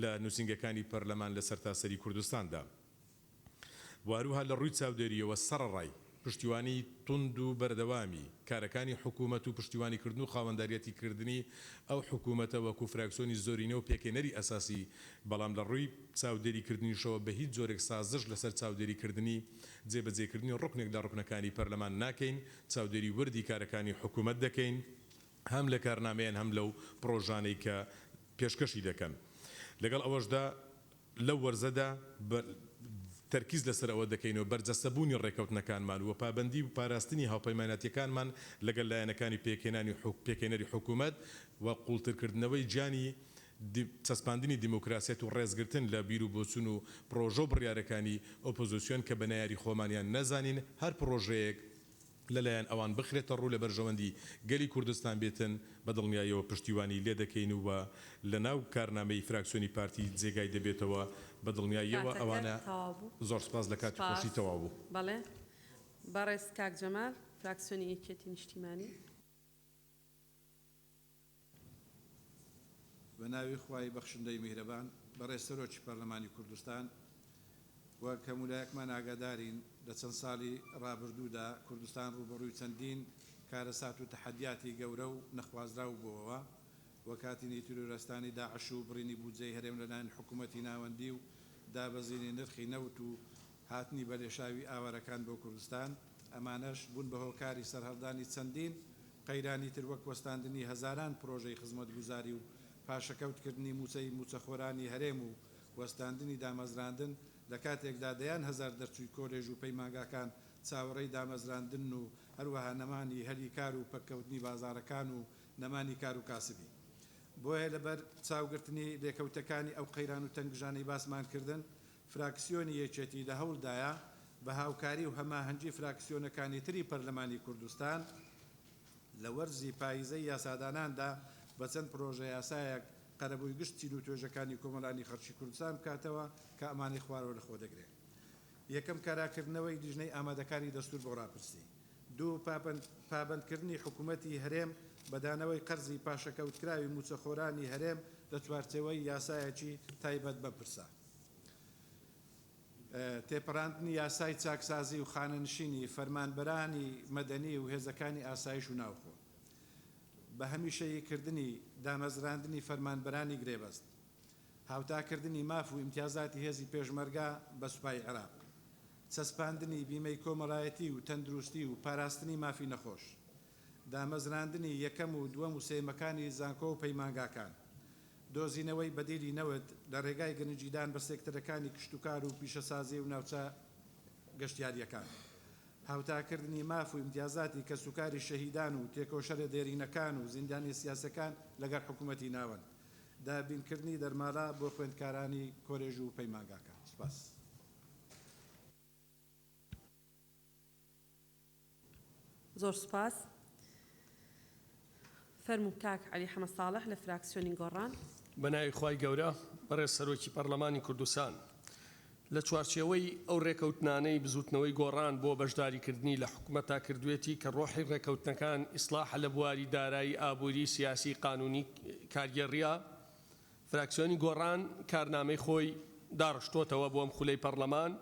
لە نووسینگەکانی پەرلەمان لە سەرتاسەری کوردستاندا و هەروەها لە ڕووی چاودێرییەوە سەڕەڕای پشتیوانی توند و بەردەوامی کارەکانی حکوومەت و پشتیوانیکردن و خاوەنداریەتیکردنی ئەو حکوومەتە وەکوو فراکسیۆنی زۆرینە و پێکهێنەری ئەساسی بەڵام لە ڕووی چاودێریکردنیشەوە بە هیچ جۆرێک سازش لەسەر چاودێریکردنی جێبەجێکردنی ڕوکنێک لە ڕوکنەکانی پەرلەمان ناکەین چاودێری وردی کارەکانی حکوومەت دەکەین. هەم لە کارنامەیان هەم لەو پڕۆژانەی کە پێشکەشی دەکەن. لەگەڵ ئەوەشدا لەو وەرزەدا تەرکیز لەسەر ئەوە دەکەینەوە بەرجەستەبوونی ڕێکەوتنەکانمان و پابەندی و پاراستنی هاوپەیمانەتییەکانمان لەگەل لایەنەکانی پێکهێنانی حکومەت و قوڵترکردنەوەی جانی چەسپاندنی دیموکراسیەت و ڕێزگرتن لە بیروبۆچون و پڕۆژە و بڕیارەکانی ئۆپۆزسیۆن کە بە نەیاری خۆمان یان نەزانین هەر پڕۆژەیەک لەلایەن ئەوان بخرێتە ڕوو لە بەرژەوەندی گەلی کوردستان بێتن، بە دڵنیایەوە پشتیوانی لێ دەکەین و لەناو کارنامەی فراکسیۆنی پارتی جێگای دەبێتەوە، بە دڵنیاییەوە کاتەکەت ئەوانە تەواو بوو زۆر سپاس لە کاتی خۆشی سپاس تەواو بوو. بەڵێ بەڕێز کاک جەمال فراکسیۆنی یەکێتی نیشتیمانی. بە ناوی خوای بەخشندەی میهرەبان. بەڕێز سەرۆکی پەرلەمانی کوردستان، وەک هەموو لایەکمان ئاگادارین لە چەند ساڵی ڕابردوودا کوردستان ڕووبەڕووی چەندین کارەسات و تەحەدیاتی گەورە و نەخوازراو بۆوە وەک هاتنی تیرۆرستانی داعش و بڕینی بودجەی هەرێم لەلایەن حکوومەتی ناوەندی و دابەزینی نرخی نەوت و هاتنی بەلێشاوی ئاوارەکان بۆ کوردستان ئەمانەش بوون بە هۆکاری سەرهەڵدانی چەندین قەیرانی تر وەک وەستاندنی هەزاران پرۆژەی خزمەتگوزاری و پاشەکەوتکردنی مووچەی مووچەخۆرانی هەرێم و وەستاندنی دامەزراندن، لە کاتێکدا دەیان هەزار دەرچووی کۆلێژ و پەیمانگاکان چاوەڕێی دامەزراندنن و هەروەها نەمانی هەلی کار و پەککەوتنی بازاڕەکان و نەمانی کار و کاسبی. بۆیە لەبەر چاوگرتنی لێکەوتەکانی ئەو قەیران و تەنگژانەی باسمان کردن، فراکسیۆنی یەکێتی لە هەوڵدایە بە هاوکاری و هەماهەنگی فراکسیۆنەکانی تری پەرلەمانی کوردستان لە وەرزی پاییزەی یاساداناندا بە چەند پرۆژەیاسایەک قەرەبووی گشت چین و توێژەکانی کۆمەڵانی خەڵکی کوردستان بکاتەوە کە ئەمانەی خوارەوە لە خۆدەگرێ یەکەم کاراکردنەوەی لیژنەی ئامادەکاری دەستوور بۆ ڕاپرسی دوو پابەند پابەندکردنی حکوومەتی هەرێم بە دانەوەی قەرزی پاشەکەوتکراوی مووچەخۆرانی هەرێم لە چوارچێوەی یاسایەکی تایبەت بەم پرسە. تێپەراندنی یاسای چاکسازی و خانەنشینی، فەرمانبەرانی مەدەنی و هێزەکانی ئاسایش و ناوخۆ، بە هەمیشەییکردنی دامەزراندنی فەرمانبەرانی گرێبەست، هاوتاکردنی ماف و ئیمتیازاتی هێزی پێشمەرگە بە سوپای عێراق، چەسپاندنی بیمەی کۆمەڵایەتی و تەندروستی و پاراستنی مافی نەخۆش، دامەزراندنی یەکەم و دووەم و سێیەمەکانی زانکۆ و پەیمانگاکان. دۆزینەوەی بەدیلی نەوت لە رێگای گرنگیدان بە سێکتەرەکانی کشتوکار و پیشەسازی و ناوچە گەشتیارییەکان. هاوتاکردنی ماف و ئیمتیازاتی کەسوکاری شەهیدان و تێکۆشەرە دێرینەکان و زیندانییە سیاسییەکان لەگەڵ حکوومەتی ناوەند. دابینکردنی دەرماڵە بۆ خوێندکارانی کۆلێژ و پەیمانگاکان. سپاس. زۆر سوپاس. فەرموو کاک عەلی حەمە ساڵح لە فراکسیۆنی گۆڕان. بەناوی خوای گەورە، بەڕێز سەرۆکی پەڕلەمانی کوردستان، لە چوارچێوەی ئەو ڕێکەوتنانەی بزوتنەوەی گۆڕان بۆ بەشداریکردنی لە حکومەتا کردوێتی کە ڕۆحی ڕێکەوتنەکان ئیسڵاحە لە بواری دارایی، ئابوری، سیاسی، قانونی، کارگێڕیە، فراکسیۆنی گۆڕان کارنامەی خۆی داڕشتۆتەوە بۆ ئەم خولەی پەڕلەمان،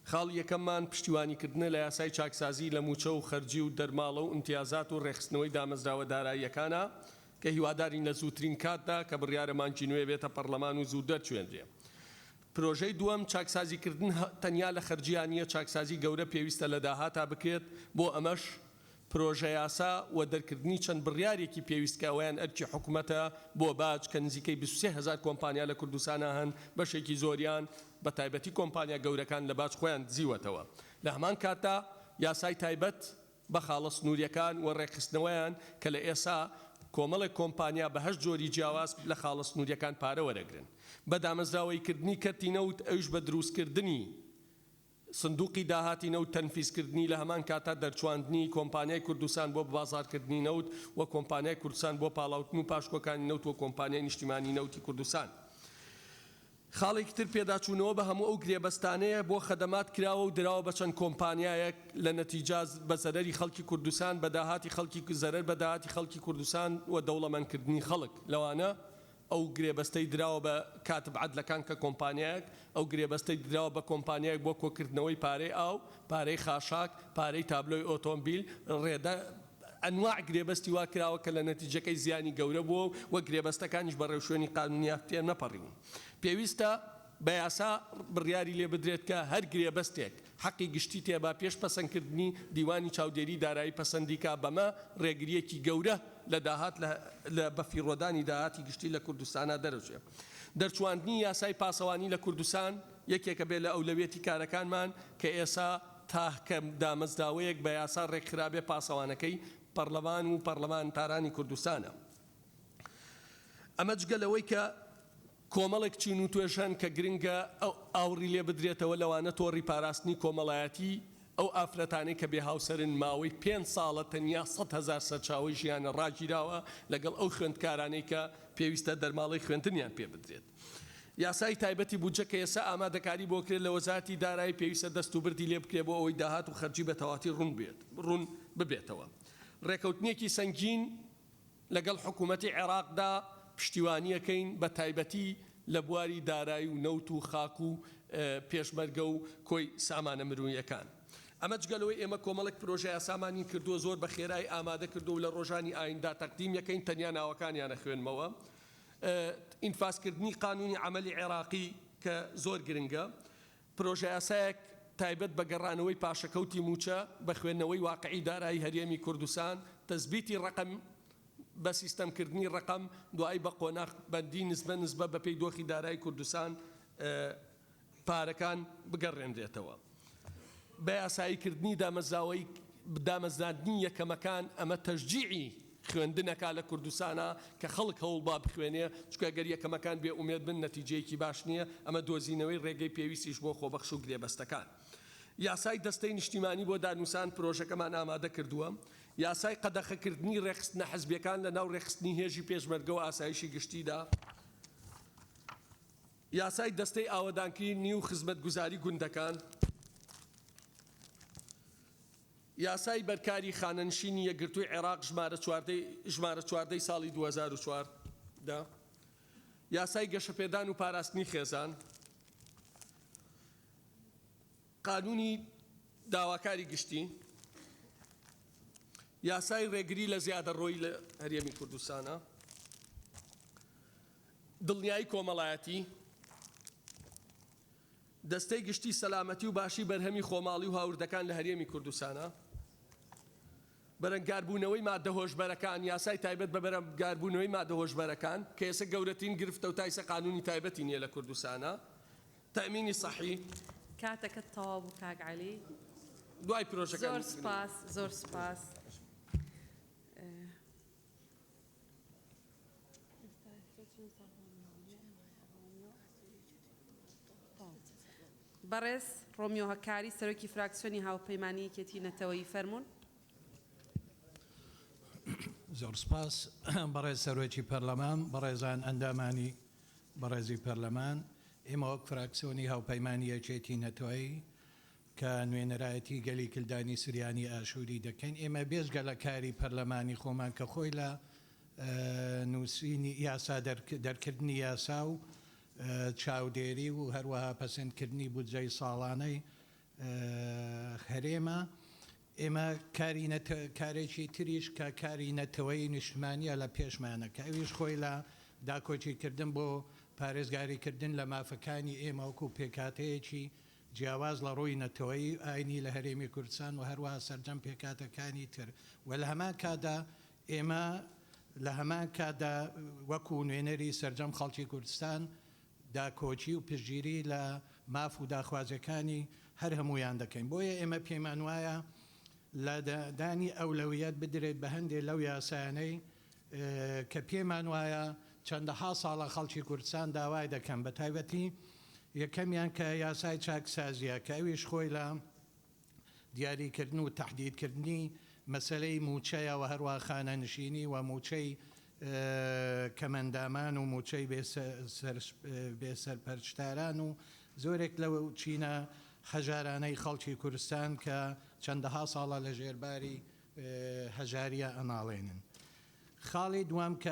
خاڵی یەکەممان پشتیوانی کردنە لە یاسای چاکسازی لە مووچە و خەرجی و دەرماڵە و ئیمتیازات و ڕێکخستنەوەی دامەزراوە داراییەکانە کە هیوادارین لە زووترین کاتدا کە بڕیارە مانگی نوێ بێتە پەڕلەمان و زوو دەرچوێنرێ. پرۆژەی دووەم چاکسازی کردن تەنیا لە خەرجیا نییە، چاکسازی گەورە پێویستە لە داهاتا بکرێت، بۆ ئەمەش، پرۆژەیاسا و دەرکردنی چەند بڕیارێکی پێویست کە ئەوەیان ئەرکی حکومەتە بۆ باج کە نزیکەی بیست و سێ هەزار کۆمپانیا لە کوردستانا هەن بەشێکی زۆریان بە تایبەتی کۆمپانیا گەورەکان لە باج خۆیان دزیوەتەوە لە هەمان کاتدا یاسای تایبەت بە خاڵە سنوریەکان و ڕێکخستنەوەیان کە لە ئێسا کۆمەڵێک کۆمپانیا بە هەشت جۆری جیاواز لە خاڵە سنوریەکان پارە وەرەگرن بە دامەزراوەیی کردنی کەرتی نەوت ئەویش بە دروستکردنی سندوقی داهاتی نەوت تەنفیزکردنی لە هەمان کاتدا دەرچواندنی کۆمپانیای کوردستان بۆ ببازاڕکردنی نەوت و کۆمپانیای کوردستان بۆ پاڵاوتن و پاشکۆکانی نەوت و کۆمپانیای نیشتیمانی نەوتی کوردستان خاڵێکی تر پێداچوونەوە بە هەموو ئەو گرێبەستانەیە بۆ خەدەمات کراوە و دراوە بە چەند کۆمپانیایەک لە نەتیجا بە زەرەری خەڵکی کوردستان بە داهاتی خەڵکی زەرەر بە داهاتی خەڵکی کوردستان و دەوڵەمەندکردنی خەڵک لەوانە ئەو گرێبەستەی دراوە بە کاتب عەدلەکان کە کۆمپانیایەک ئەو گرێبەستەی دراوە بە کۆمپانیایەک بۆ کۆکردنەوەی پارەی ئاو، پارەی خاشاک، پارەی تابلۆی ئۆتۆمبیل، ڕێدە، ئەنواع گرێبەستی وا کراوە کە لە نەتیجەکەی زیانی گەورە بووە و وە گرێبەستەکانیش بە ڕێوشوێنی قانونی تێنەپەڕیون. پێویستە بە یاسا بڕیاری لێ بدرێت کە هەر گرێبەستێک، حەقی گشتی تێبا پێش پەسەندکردنی دیوانی چاودێری دارایی پەسەندیکا، بەمە رێگرییەکی گەورە لە داهات لە بەفیڕۆدانی داهاتی گشتی لە کوردستانا دەرەچێ. دەرچواندنی یاسای پاسەوانی لە کوردستان یەکێکە بێ لە ئەولەویەتی کارەکانمان کە ئێسا تاهکە دامەزداوەیەک بە یاسا رێکخرابێ پاسەوانەکەی پەڕلەمان و پەڕلەمانتارانی کوردستانە. ئەمە جگە لەوەی کە کۆمەڵێک چین و توێژ هەن کە گرنگە ئاوڕی لێ بدرێتەوە، لەوانە تۆڕی پاراستنی کۆمەڵایەتی، ئەو ئافرەتانەی کە بێ هاوسەرن ماوەی پێنج ساڵە تەنیا سەد هەزار سەرچاوەی ژیانە ڕاگیراوە، لەگەڵ ئەو خوێندکارانەی کە پێویستە دەرماڵەی خوێندنیان پێ بدرێت. یاسای تایبەتی بودجە کە ئێستا ئامادەکاری بۆ کرێت لە وەزارەتی دارایی پێویستە دەست و بردی لێ بکرێت بۆ ئەوەی داهات و خەرجی بە تەواتی ڕوون ببێتەوە. ڕێکەوتنێکی سەنگین. لەگەڵ حکوومەتی عێراقدا پشتیوانییەکەین، بەتایبەتی لە بواری دارایی و نەوت و خاک و پێشمەرگە و کۆی سامانە مرۆییەکان. ئەمە جگە لەوەی ئێمە کۆمەڵێک پرۆژەیاسامانی کردووە، زۆر بە خێرایی ئامادە کردووە و لە ڕۆژانی ئایندە تەقدیم یەکەین، تەنیا ناوەکانیان ئەخوێنمەوە. ئینفازکردنی قانوونی عەمەلی عێراقی کە زۆر گرنگە. پرۆژەیاسایەک تایبەت بە گەڕانەوەی پاشەکەوتی مووچە بە خوێندنەوەی واقعی دارایی هەرێمی کوردستان، تەسبیتی ڕەقەم بە سیستەمکردنی ڕەقەم دوایی بە قۆناخ بەندی نسبە نسبە بەپێی دۆخی دارایی کوردستان پارەکان بگەڕێنرێتەوە بە یاساییکردنی دامەزراوەی دامەزراندنی یەکەمەکان ئەمە تەشجیعی خوێندنەکە لە کوردستانە کە خەڵک هەوڵبا بخوێنێ، چونکە گەر یەکەمەکان بێ ئومێد بن نەتیجەیەکی باش نییە، ئەمە دۆزینەوەی ڕێگەی پێویستیش بۆ خۆبەخش و گرێبەستەکان. یاسای دەستەی نیشتیمانی بۆ دانوسان پرۆژەکەمان ئامادە کردووە. یاسای قەدەخەکردنی ڕێکخستنە حزبیەکان لە ناو ڕێکخستنی هێژی پێشمەرگە و ئاسایشی گشتیدا. یاسای دەستەی ئاوەدانکرینی و خزمەتگوزاری گوندەکان. یاسای بەرکاری خانەنشینی یەکگرتووی عێراق ژمارە چواردە ژمارە چواردە ی ساڵی دوو هەزار و چواردە یاسای گەشەپێدان و پاراستنی خێزان قانونی داواکاری گشتی یاسای ڕێگری لە زیادەڕۆی لە هەرێمی کوردستانە دڵنیایی کۆمەڵایەتی دەستەی گشتی سەلامەتی و باشی بەرهەمی خۆماڵی و هاوردەکان لە هەرێمی کوردستانە. بەرەنگاربوونەوەی ماددە هۆشبەرەکان، یاسای تایبەت بە بەرەنگاربوونەوەی ماددە هۆشبەرەکان، کە ئێستا گەورەترین گرفتە و تایسە قانوونی تایبەتی نییە لە کوردستانە. تەئمینی سەحی. کاتەکەت تەواو بوو کاک عەلی. دوای پرۆژەکانی. زۆر سوپاس زۆر سوپاس. بەڕێز ڕۆمیۆ هەکاری، سەرۆکی فراکسیۆنی هاوپەیمانیی یەکێتیی نەتەوەیی، فەرموون. زۆر سپاس بەڕێز سەرۆکی پەرلەمان، بەڕێزان ئەندامانی بەڕێزی پەرلەمان، ئێمە وەک فراکسیۆنی هاوپەیمانیی یەکێتیی نەتەوەیی کە نوێنەرایەتی گەلی کلدانی سریانی ئاشوری دەکەین ئێمە بێجگە لە کاری پەرلەمانی خۆمان کە خۆی لە نوسینی یاسا دەرکردنی یاسا و چاودێری و هەروەها پەسەندکردنی بودجەی ساڵانەی هەرێمە ئێمە کاری کارێکی تریش کە کاری نەتەوەی نیشتمانیە لە پێشمانە کە ئەویش خۆی لە داکۆکیکردن بۆ پارێزگاریکردن لە مافەکانی ئێمەوەکو پێکاتەیەکی جیاواز لە ڕووی نەتەوەیی و ئاینی لە هەرێمی کوردستان و هەروەها سەرجەم پێکهاتەکانی تر و لە هەمان کاتدا ئێمە لە هەمان کاتدا وەکوو نوێنەری سەرجەم خەڵکی کوردستان داکۆکی و پشتگیری لە ماف و داخوازییەکانی هەر هەموویان دەکەین بۆیە ئێمە پێمان وایە لە دانی ئەولەویەت بدرێت بە هەندێ لەو یاسایانەی کە پێمان وایە چەندەها ساڵە خەڵکی کوردستان داوای دەکەن، بە تایبەتی یەکەمیان کە یاسای چاکسازییە کە ئەویش خۆی لە دیاریکردن و تەحدیدکردنی مەسەلەی مووچەیە و هەروەها خانەنشینی و مووچەی کەمئەندامان و مووچەی بێ سەرپەرشتاران و زۆرێک لەو چینە هەژارانەی خەڵکی کوردستان کە چەندەها ساڵە لە ژێر باری هەژاریا ئەناڵێنن. خاڵی دووەم کە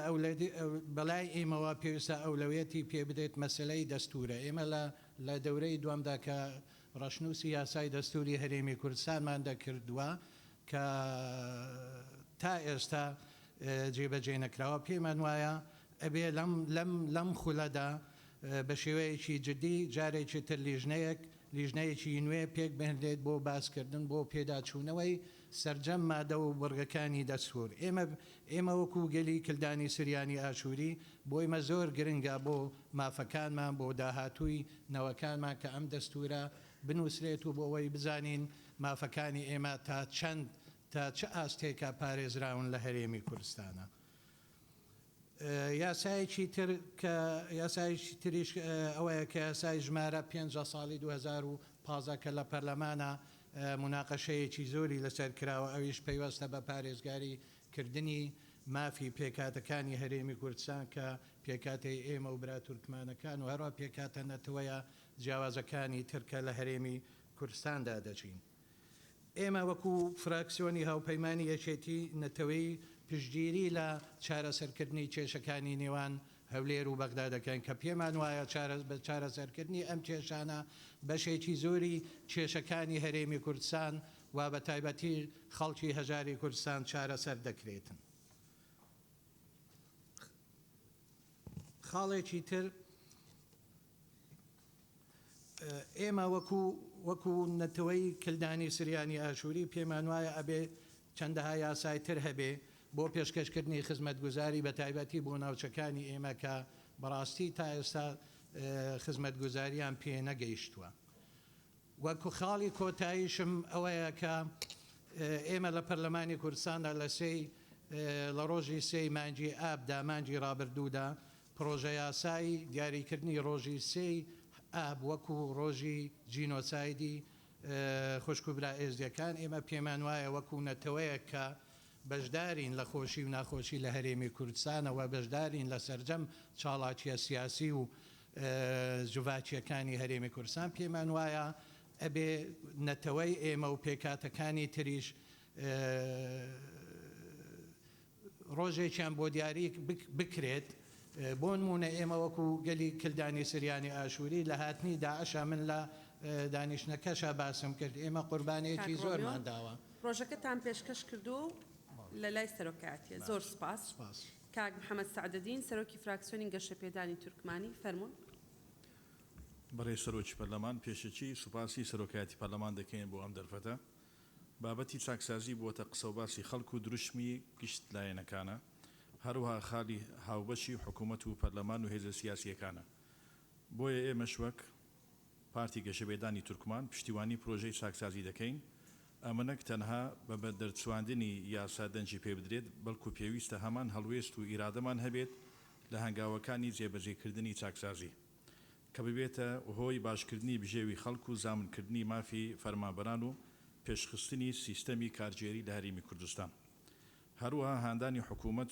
بەلای ئێمەوە پێویستە ئەولەویەتی پێ بدرێت مەسەلەی دەستوورە. ئێمە لە دەورەی دووەمدا کە ڕەشنووسی یاسای دەستووری هەرێمی کوردستانمان دەکردوە کە تا ئێستا جێبەجێ نەکراوە پێمان وایە ئەبێ لەم خولەدا بە شێوەیەکی جدی جارێکی تر لیژنەیەک لیژنەیەکی نوێ پێکبهنرێت بۆ باسکردن بۆ پێداچوونەوەی سەرجەم مادە و بڕگەکانی دەستوور. ئێمە ئێمە وەکوو گەلی کلدانی سریانی ئاشووری بۆیمە زۆر گرنگە بۆ مافەکانمان بۆ داهاتووی نەوەکانمان کە ئەم دەستوورە بنووسرێت و بۆ ئەوەی بزانین مافەکانی ئێمە تا چەند تا چ ئاستێکە پارێزراون لە هەرێمی کورستانە یاسایەکی تر کە یاسایەکی تریش ئەوەیە کە یاسای ژمارە پێنج لە ساڵی دوو هەزار و پازدە کە لە پەرلەمانە موناقەشەیەکی زۆری لەسەر کراوە ئەویش پەیوەستە بە پارێزگاری کردنی مافی پێکهاتەکانی هەرێمی کوردستان کە پێکهاتەی ئێمە و برا تورکمانەکان و هەروە پێکهاتە نەتەوەیە جیاوازەکانی تر کە لە هەرێمی کوردستاندا دەژین. ئێمە وەکو فراکسیۆنی هاوپەیمانی یەکێتی نەتەوەیی پشتگیری لە چارەسەرکردنی کێشەکانی نێوان هەولێر و بەغدا دەکەین کە پێمان وایە بە چارەسەرکردنی ئەم کێشانە بەشێکی زۆری کێشەکانی هەرێمی کوردستان و بە تایبەتی خەڵکی هەژاری کوردستان چارەسەر دەکرێتن. خاڵێکی تر ئێمە وەکو وەکو نەتەوەی کلدانی سریانی ئاشوری پێمان وایە ئەبێ چەندەها یاسای تر هەبێ بۆ پێشکەش کردنی خزمەتگوزاری بە تایبەتی بۆ ناوچەکانی ئێمە کە بەڕاستی تا ئێستا خزمەتگوزاریان پێ نەگەیشتوە وەکو خاڵی کۆتاییشم ئەوەیە کە ئێمە لە پەرلەمانی کوردستاندا لە سێی لە ڕۆژی سێی مانجی ئابدا مانجی ڕابردوودا پڕۆژەیاسای دیاریکردنی ڕۆژی سێی ئاب وەکو ڕۆژی جینۆسایدی خوشک و برا ئێزدیەکان، ئێمە پێمان وایە وەکو نەتەوەیەک کە بەشدارین لە خۆشی و ناخۆشی لە هەرێمی کوردستانەوە، بەشدارین لە سەرجەم چاڵاکیە سیاسی و جڤاکیەکانی هەرێمی کوردستان، پێمان وایە ئەبێ نەتەوەی ئێمە و پێکهاتەکانی تریش، ڕۆژێکیان بۆ دیاری بکرێت، بۆنموونە ئێمە وەکو گەلی کلدانی سریانی ئاشوری لە هاتنی داعشا من لە دانیشتنەکەشا باسم کرد ئێمە قوربانیەکی زۆرمان داوە. کاک ڕۆمیۆ ڕۆژەکەتان پێشکەش کردووەو لە لای سەرۆکایەتیە. زۆر سوپاس. سوپاس. کاک محمد سەعدەدین سەرۆکی فراکسیۆنی گەشەپێدانی تورکمانی، فەرموون. بەڕێز سەرۆکی پەرلەمان، پێشەکی سوپاسی سەرۆکایەتی پەرلەمان دەکەین بۆ ئەم دەرفەتە. بابەتی چاکسازی بووەتە قسەوباسی خەڵک و دروشمی گشت لایەنەکانە، هەروەها خالی هاوبەشی حکوومەت و پەرلەمان و هێزە سیاسییەکانە. بۆیە ئێمەش وەک پارتی گەشەپێدانی تورکمان پشتیوانی پرۆژەی چاکسازی دەکەین، ئەمە نەک تەنها بە بەدەرچواندنی یاسا دەنگی پێ بدرێت، بەڵکو پێویستە هەمان هەڵوێست و ئیرادەمان هەبێت لە هەنگاوەکانی جێبەجێکردنی چاکسازی. کە ببێتە هۆی باشکردنی بژێوی خەڵک و زامنکردنی مافی فەرمانبەران و پێشخستنی سیستەمی کارگێری لە هەرێمی کوردستان. هەروەها هاندانی حکوومەت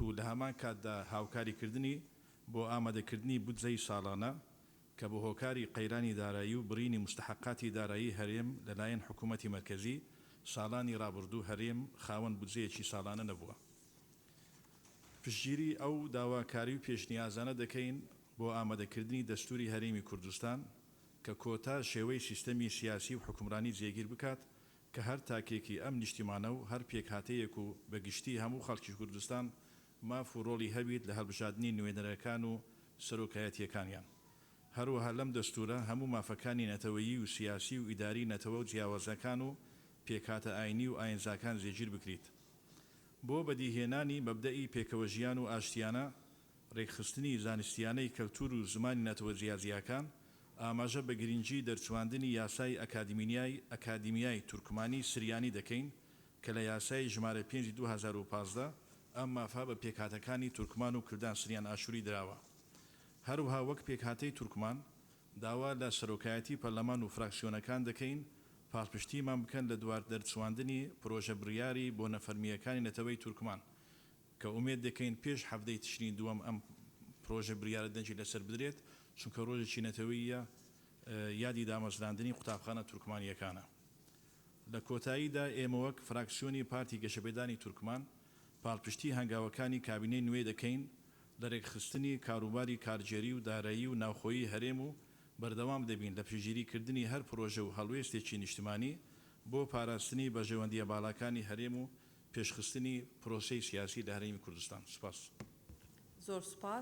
و لە هەمان کاتدا هاوکاریکردنی بۆ ئامادەکردنی بودجەی ساڵانە، کە بە هۆکاری قەیرانی دارایی و بڕینی موستەحەقاتی دارایی هەرێم لەلایەن حکوومەتی مەرکەزی، ساڵانی ڕابردوو هەرێم خاوەن بودجەیەکی ساڵانە نەبووە. پشتگیری ئەو داواکاری و پێشنیازانە دەکەین بۆ ئامادەکردنی دەستوری هەرێمی کوردستان کە کۆتا شێوەی سیستەمی سیاسی و حوکمرانی جێگیر بکات کە هەر تاکێکی ئەم نیشتیمانە و هەر پێکهاتەیەک و بە گشتی هەموو خەڵکی کوردستان ماف و رۆڵی هەبیت لە هەڵبژادنی نوێنەرەکان و سەرۆکایەتیەکانیان. هەروەها لەم دەستورە هەموو مافەکانی نەتەوەیی و سیاسی و ئیداری نەتەوە جیاوازەکان و پێکهاتە ئاینی و ئاینزاکان جێگیر بکریت. بۆ بەدیهێنانی مەبدەئی پێکەوەژیان و ئاشتیانە، رێکخستنی زانستیانەی کەلتور و زمانی نەتەوە جیاجیاکان، ئاماژە بە گرینگی دەرچواندنی یاسای ئەکادیمینیای ئەکادیمیای تورکمانی سریانی دەکەین کە لە یاسای ژمارە پێنج ی دوو هەزار و پازدە، ئەم مافە بە پێکهاتەکانی تورکمان و کلدان سریان ئاشوری دراوە. هەروها وەک پێکهاتەی تورکمان، داوا لە سەرۆکایەتی پەرلەمان و فراکسیۆنەکان دەکەین پاڵپشتیمان بکەن لە دوار دەرچواندنی پرۆژە بریاری بۆ نەفەرمییەکانی نەتەوەی تورکمان کە ئومێد دەکەین پێش حەڤدەی تشرینی دووەم ئەم پرۆژە بریارە دەنگی لەسەر بدرێت چونکە رۆژێکی نەتەوەییە یادی دامەزراندنی قوتابخانە تورکمانییەکانە. لە کۆتاییدا ئێمە وەک فراکسیۆنی پارتی گەشەپێدانی تورکمان پاڵپشتی هەنگاوەکانی کابینەی نوێ دەکەین لەرێکخستنی کاروباری کارگێری و دارایی و ناوخۆیی هەرێم و بەردەوام دەبین لە پشتگیریکردنی هەر پرۆژە و هەڵوێستێکی نیشتمانی بۆ پاراستنی بەرژەوەندییە باڵاکانی هەرێم و پێشخستنی پرۆسەی سیاسی لە هەرێمی کوردستان. سپاس. زۆر سوپاس.